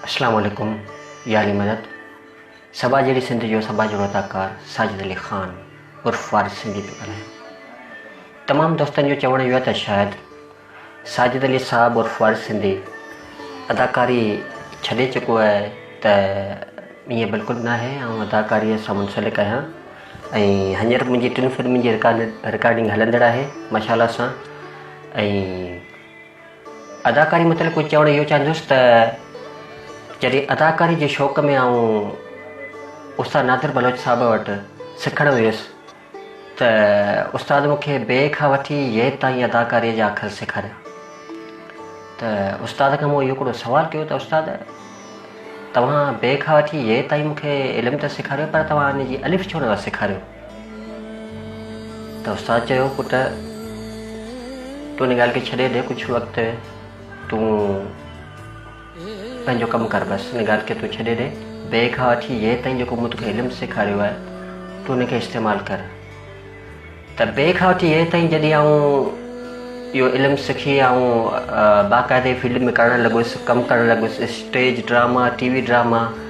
اسلام عليڪم يا علي مدد سڀا جهڙي سنڌ جو سڀا جهڙو اداڪار ساجد علي خان عرف فارس سنڌي پيو ڳالهايان تمام دوستن جو چوڻ اهو آهي ته شايد ساجد علي صاحب عرف فارس سنڌي اداڪاري ڇڏي چڪو آهي ته ائين بلڪل نه آهي آئون اداڪاري سان منسلڪ آهيان ۽ هينئر منهنجي ٽن فلمن جي رڪارڊنگ هلندڙ آهي ماشاء الله سان ۽ اداڪاري متعلق ڪجهه چوڻ اهو چاهندس ته جڏهن اداڪاري جي شوق ۾ آئون استاد نادر بلوچ صاحب وٽ سکڻ ويس ته استاد مون کي بي کان وٺي يد تائين اداڪاري جا اکر سيکاريا ته استاد کان مون اهو هڪڙو سوال ڪيو ته استاد توهان بي کان وٺي يد تائين مون کي علم ته سيکاريو پر توهان ان جي الف ڇو نه سيکاريو ته استاد چيو پٽ تون ان ڳالهه کي ڇڏي ڏي ڪجهه وقت تون پنهنجو ڪم ڪر بس ان ڳالهه کي تون ڇڏي ڏي بي کان وٺي يي تائين جيڪو مون توکي علم سيکاريو آهي تون ان کي استعمال ڪر ته بي کان وٺي يي تائين جڏهن آئون اهو علم سکي آئون باقاعدي فيلڊ ۾ ڪرڻ لڳس ڪم ڪرڻ لڳس stage drama TV drama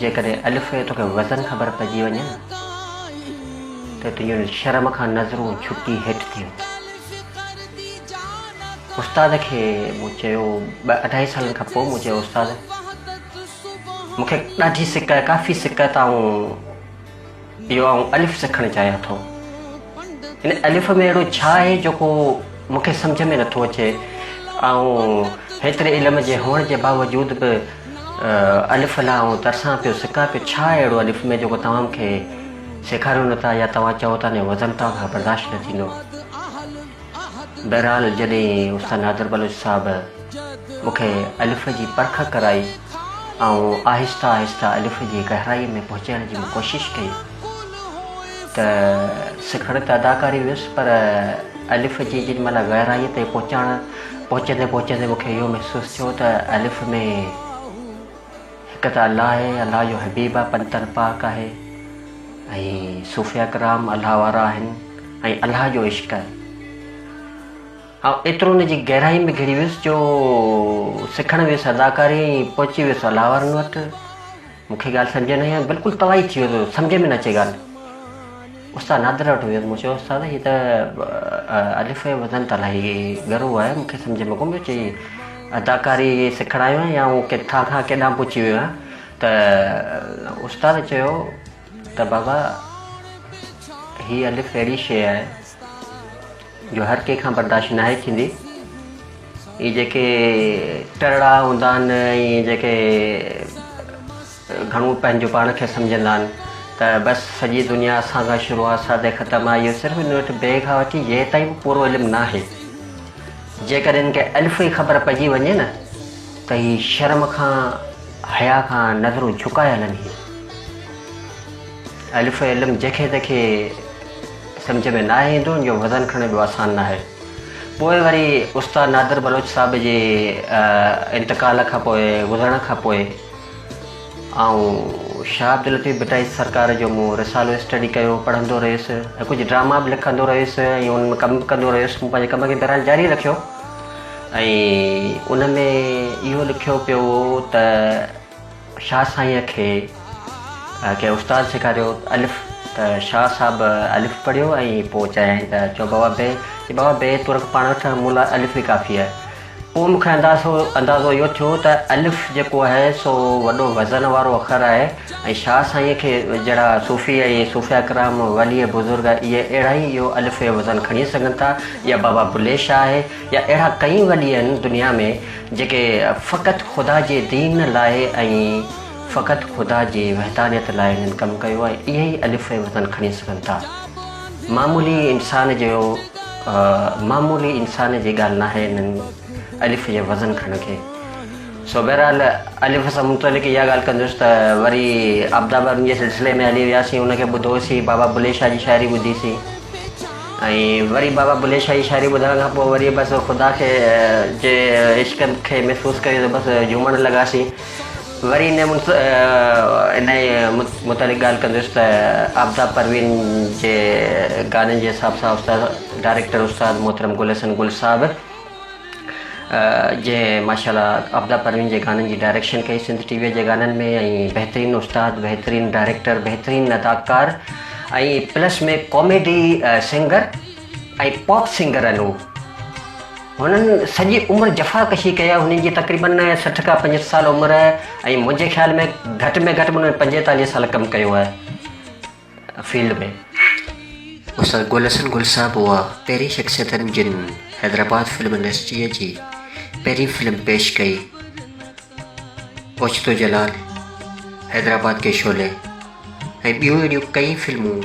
جيڪڏهن الف ۽ توکي وزن خبر پئجي وڃي نه ته تنهنجون شرم کان نظرون جهڪي هيٺ ٿي هونديون. استاد کي مون چيو ٻه اڍائي سالن کان پوء مون چيو استاد مون کي ڏاڍي سڪ آهي ڪافي سڪ آهي ته آئون اهو آئون الف سکڻ چاهيان ٿو. ان الف ۾ اهڙو ڇا آهي جيڪو مون کي سمجهه ۾ نٿو اچي. آئون هيتري علم جي هئڻ جي باوجود به الف لا آئون ترسان پيو سڪان پيو ڇا آهي اهڙو الف ۾ جيڪو توهان مون کي سيکاريو نٿا يا توهان چئو ٿا نه وزن توهان کان برداشت نه ٿيندو. بهرحال جڏهن استاد نادر بلوچ صاحب مون کي الف جي پرک ڪرائي آئون آهستي آهستي الف جي گهرائي ۾ پهچڻ جي ڪوشش ڪئي ته سکڻ ته ادا ڪري ويس پر الف جي جن مهل گهرائي تي پهچڻ پهچندي پهچندي مون کي اهو محسوس ٿيو ته الف ۾ هڪ ته الله آهي، الله جو حبيب آهي، پنتن پاڪ آهي ۽ صوفيا ڪرام الله وارا آهن ۽ الله جو عشق آهي. آئون ايترو ان جي گهرائي ۾ گهڙي ويس جو سکڻ ويس اداڪاري ۽ پهچي ويس الله وارن وٽ. مون کي ڳالهه سمجهه نه آئي ۽ بلڪل توائي ٿي ويس، سمجهه ۾ نه اچي ڳالهه. استاد نادر وٽ ويس مون چيو استاد هي ته الف ۽ وزن ته الاهي ڳرو آهي مون کي سمجھ ۾ ڪون پيو اچي اداڪاري سکڻ آيو آهيان يا ڪٿان کان ڪيڏانهن پهچي ويو آهيان ته استاد چيو ته بابا هي الف اهڙي شيء آهي جو هر ڪنهن کان برداشت ناهي ٿيندي هي جيڪي ٽرڙا هوندا آهن ۽ جيڪي گهڻو پنهنجو پاڻ کي سمجهندا آهن ته بس سڄي دنيا اسان کان شروع آهي اسان تي ختم آهي اهو صرف ان وٽ بي کان وٺي يه تائين به پورو علم ناهي جيڪڏهن ان کي الف ئي خبر پئجي وڃي نه ته هي شرم کان حيا کان نظرون جهڪائي هلن هي الف علم جيڪي تيکي سمجھ ۾ ناهي ايندو ان جو وزن کڻڻ ايڏو آسان ناهي پوء وري استاد نادر بلوچ صاحب جي انتقال کان پوء گذرڻ کان پوء آئون شاهه عبداللطيف ڀٽائي سرڪار جو مون رسالو اسٽڊي ڪيو، پڙهندو رهيس ۽ ڪجهه ڊراما به لکندو رهيس ۽ انهن ۾ ڪم به ڪندو رهيس. مون پنهنجي ڪم کي بهرحال جاري رکيو ۽ ان ۾ اهو لکيو پيو هو ته شاهه سائينء کي ڪنهن استاد سيکاريو الف ته شاهه صاحب الف پڙهيو ۽ پوء چيائين ته چئو بابا بي، چي بابا بي تون رک پاڻ وٺ مون لاء الف ئي ڪافي آهي. پوء مون کي اندازو اهو ٿيو ته الف جيڪو آهي سو وڏو وزن وارو اکر آهي ۽ شاهه سائينء کي جهڙا صوفي ۽ صوفيا ڪرام، ولي بزرگ اهي اهڙا ئي اهو الف جو وزن کڻي سگهن ٿا يا بابا بلي شاهه آهي يا اهڙا ڪئين ولي آهن دنيا ۾ جيڪي فقط خدا جي دين لاء ۽ فقط خدا جي وحدانيت لاء هنن ڪم ڪيو ۽ اهي ئي الف جو وزن کڻي سگهن ٿا. معمولي انسان جو معمولي انسان جي ڳالهه ناهي انهن الف جي وزن کڻڻ کي سو بهرحال الف سان متعلق اها ڳالهه ڪندس ته وري عبدابن جي سلسلي ۾ هلي وياسين ان کي ٻڌوسي بابا بلي شاهه جي شاعري ٻڌيسي ۽ وري بابا بلي شاهه جي شاعري ٻڌڻ کان پوء وري بس خدا کي جي عشق کي محسوس ڪري ته بس جهومڻ لڳاسين وري انهيء متعلق ڳالهه ڪنديس ته آفتاب پروين جي گانن جي حساب سان استاد ڊائريڪٽر استاد محترم گل حسن گل صاحب جنهن ماشاء الله آفتاب پروين جي گانن جي ڊائريڪشن ڪئي سنڌ ٽي وي جي گانن ۾ ۽ بهترين استاد بهترين ڊائريڪٽر بهترين اداڪار ۽ پلس ۾ ڪاميڊي سنگر ۽ پاپ سنگر آهن هو هنن سڄي عمر جفا ڪشي ڪئي آهي، هنن جي تقريباً سٺ کان پنجهٺ سال عمر آهي ۽ منهنجي خيال ۾ گهٽ ۾ گهٽ به هنن پنجيتاليهه سال ڪم ڪيو آهي فيلڊ ۾. استاد گل حسن گل صاحب هئا پهرين شخصيتن جن حيدرآباد فلم انڊسٽريء جي پهرين فلم پيش ڪئي اوچتو جلال، حيدرآباد ڪي شعلي ۽ ٻيون اهڙيون ڪئين فلمون.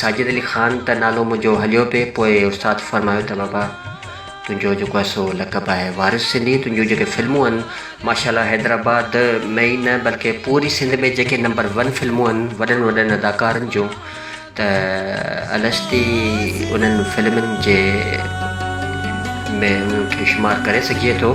ساجد علي خان ته نالو منهنجو هليو پئي پوء استاد فرمايو ته بابا تنهنجو جيڪو آهي سو لقب آهي وارث سنڌي تنهنجون جيڪي فلمون آهن ماشاءالله حيدرآباد ۾ ئي نه بلڪه پوري سنڌ ۾ جيڪي نمبر ون فلمون آهن وڏن وڏن اداڪارن جون ته الستي انهن فلمن جي ۾ انهن کي شمار ڪري سگهجي ٿو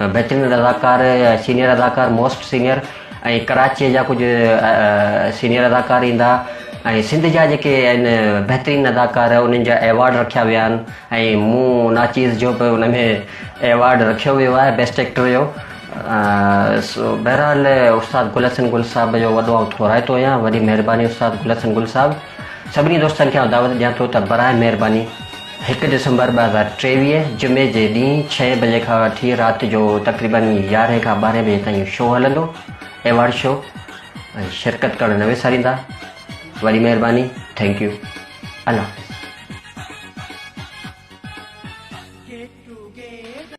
بهترين اداڪار سينيئر اداڪار موسٽ سينيئر ۽ ڪراچي جا ڪجهه سينيئر اداڪار ايندا ۽ سنڌ جا جيڪي آهن بهترين اداڪار انهن جا ايوارڊ رکيا ويا آهن ۽ مون ناچيز جو به ان ۾ ايوارڊ رکيو ويو آهي بيسٽ ايڪٽر جو بهرحال استاد گل حسن گل صاحب جو وڏو آئون ٿورائتو آهيان وڏي مهرباني استاد گل حسن گل صاحب سڀني دوستن کي آئون دعوت ڏيان ٿو ته برائي مهرباني هڪ ڊسمبر ٻه هزار ٽيويهه جمعي جي ڏينهن ڇهين بجي کان وٺي رات جو تقريباً يارهين کان ٻارهين بجي تائين شو هلندو ايوارڊ شو ۽ شرڪت ڪرڻ نه وساريندا وڏي مهرباني ٿينڪ يو الله حافظ